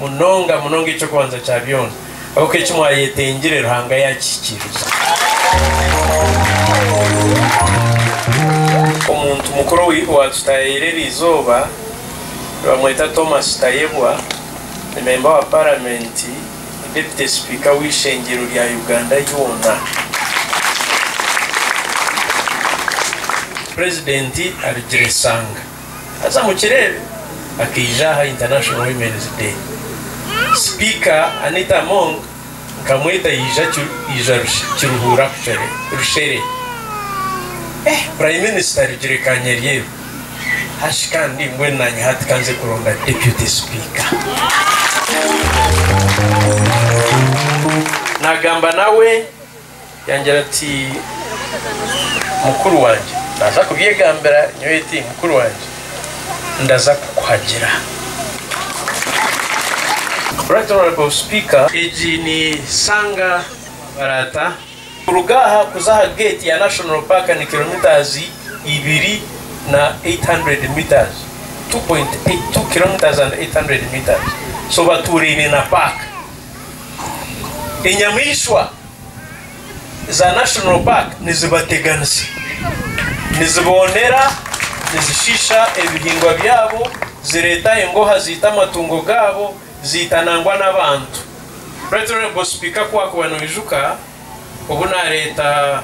Munonga munonga eky'okubanza kya byona, ahabw'oku eki mwayetengire Ruhanga yaakihikiriza. Omuntu mukuru owaatutayaire eri izooba nibamweta Thomas Tayebwa, ni memba wa Paramenti, ni Deputy Sipiika w'eishengyero rya Uganda yoona. Purezidenti Habigiresanga. Haza mukireebe akaija aha International Women's Day. Sipiika Anita Among nkamweta yaija yaija kiruhuura kuchere rushere. Eeh Prime Minister Rugire Kanyaryeru hashi kandi mbwenu nanye hati kanze kuronda Deputy Sipiika. Nagamba nawe. Yangira ati, Mukuru wangye, naaza kubyegambira nyowe eti, Mukuru wangye, ndaza kukuhagira. Right Honourable Speaker, egi ni Sanga Baraata, kuruga aha kuza aha geeti ya National Park ni kilometres ibiri na 800 metres, 2.82 kilometres and 800 metres, so batuuraine na paaka. Enyamaishwa za National Park nizibateganisa, niziboonera, nizishiisha ebihingwa byabo, zireeta engooha ziita amatungo gaabo, ziita nangwa n'abantu. Right Honourable Speaker ku waakuba noijuka obu naareeta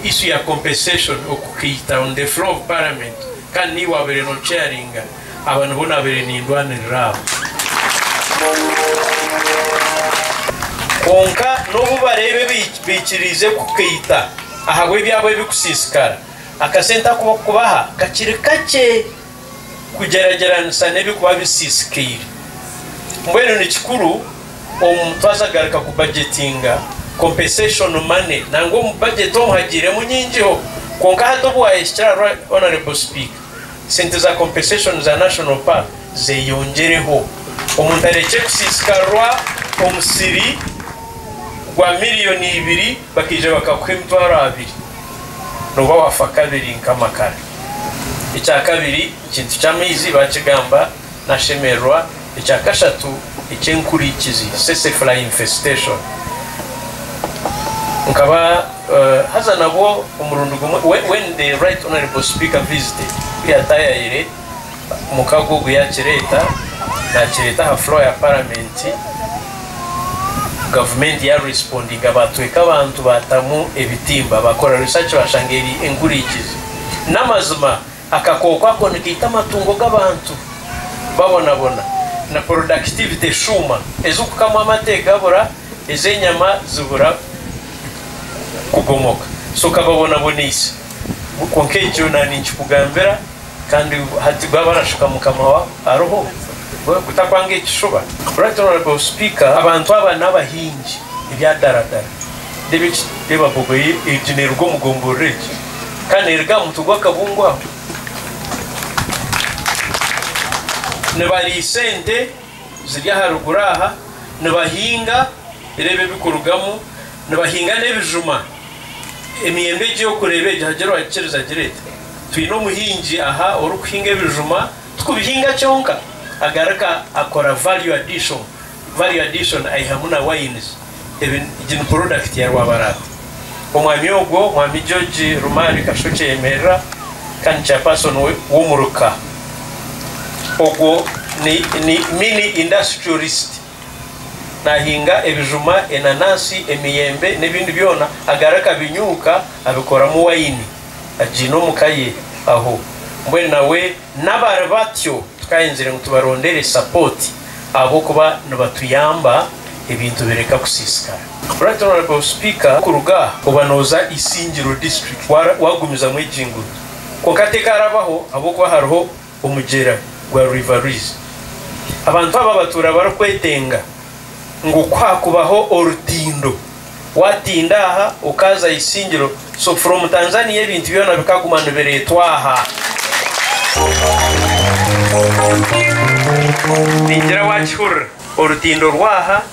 issue ya compensation okukiyita on the floor of parliament kandi niiwe wabaire no chairinga aba nibo nabaire nindwanirira abo kwonka nobu bareebe baikiriize kukiyita ahabw'ebyabo ebikusisikara akasente aku bakubaha kakiri kakye. kugyeragyeranisa n'ebirikuba bisiisikaire. Mbwenu ni kikuru omu twaza kugaruka kubajetinga compensation money nangwa omu bajeti omu hagiiremu nyingiho kwonka hati obu waayehikire aha Honourable Sipiika sente za compensation za National Park zeeyongyereho omuntu arekye kusiisikarwa omusiri gwa miriyoni ibiri bakaija bakakuha emitwaro abiri nooba waafa kabiri nk'amakara. Ekya kabiri, ekintu ky'amaizi baakigamba naashemererwa. Ekya kashatu, eky'enkurikizi, tsetse fly infestation. Nkaba haza nabwo omurundi gumwe, when the right honourable speaker visited, ku yaataayayire, Mukago ogu yaakireeta, naakireeta aha floor ya parliament, gavumenti ya respondinga baatweeka abantu baatamu ebitimba, baakora research baashanga eri enkurikizi. N'amazima akakooko ako nikaita amatungo g'abantu babonabona na productivity eshuuma, ez'okukamwa amate gabura, ez'enyama zibura kugomoka, so kababonaboneise. Kwonka ekyo naanikikugambira. Kandi hati baba barashuka mukama wabo ariho we kutakwanga ekishuba. Right honourable speaker abantu aba nabahingi ebyadaradara reba bogoya egyo neruga omugomborora egyo Kandi neruga ahamutwe gwakabungo aho nibarisa ente ziri aharuguru aha nibahinga reba ebikurugamu nibahinga nebijuma emiyembe egyo yokureba egyo hagire owagikiriza agireete. Twine omuhingi aha orikuhinga ebijuma tikubihinga kyonka agaruka akora value addition value addition aihamu na wines ebi egi ni product ya Rwabarata omwami ogwo mwami George Rumari Kasho Kyeyemerera kandi chairperson we womuruka ogwo ni ni mini industrialist nahinga ebijuma enanasi emiyembe nebindi byona agaruka abinyuuka abikoramu wine. agiine omu ka ye aho mbwenu nawe nabari batyo tukahenzire ngu tubarondere support ahabw'okuba nibatuyamba ebintu bireka kusisikara. Right Honourable Speaker kuruga aha oba noza Isingiro District wagumizamu egi nguuto kwonka tekarabaho ahabw'okuba hariho. omugyera gwa River Rwizi. Abantu aba batuura barikwetenga ngu ku haakubaho orutindo, waatinda aha okaaza aha isingiro, so from Tanzania ebintu byona bikaguma nibireetwa aha. Ningira waakihurira, orutindo rw'aha.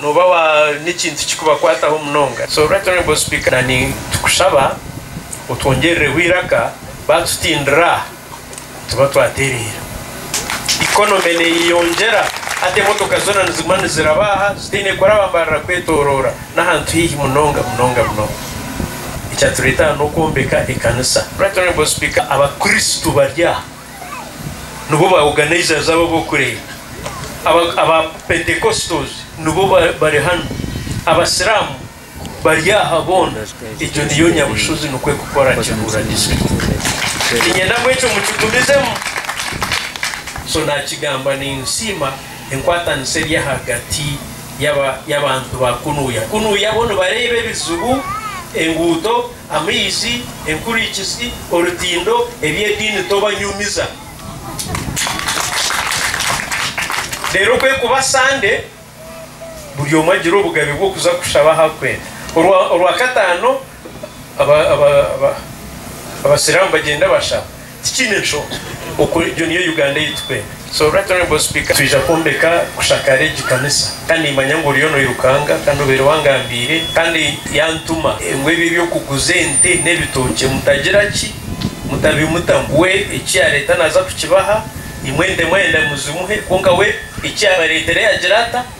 Nooba waine ekintu kikubakwataho munonga, so Right Honourable Speaker, na nitukushaba otwongyerireho eiraka baatutindira nituba twatereera. Economy neeyeyongyera hati emotoka zoona niziguma niziraba aha zitaine kuraba mbarira kwetoroora n'ahantu haihi munonga munonga munonga. Ekyatureeta aha n'okwombeka ekanisa. Right Honourable Speaker, abakristo bari aha. nibo ba organizers abo ab'okureeta. Aba aba Pentecostals nibo bari hanu. Abasiramu bari aha boona. Egyo niyo nyabushozi nikwo ekukora Kiruhura District. Ninyenda ngu ekyo mukigumizemu. So nakigamba ninsiima enkwatanisa eri ahagati y'aba y'abantu ba kunuuya. Kunuuya bo nibareeba ebizibu, enguuto, Amaizi, enkurikizi, orutindo, eby'ediini tobanyumiza. Reero kwekuba Sande, buri omwe agira obugabe bw'okuza kushaba ahu arikwenda. Orwa, Orwakataano aba, aba, aba, Abasiraamu bagyenda bashaba. Tikiine nshonga oku egyo niyo Uganda yaitu pe. So Right Honourable Speaker twija kwombeka kushakaara egi kanisa kandi nimanya ngu oriyo noirukanga kandi obaire wangambiire kandi yantuma ngu ebyo ebyokuguza ente n'ebitookye mutagira ki mutabimutamu we eki yareeta naaza kukibaha imwe ente mwayenda muzimuhe kwonka we eki yabareetera yagira ata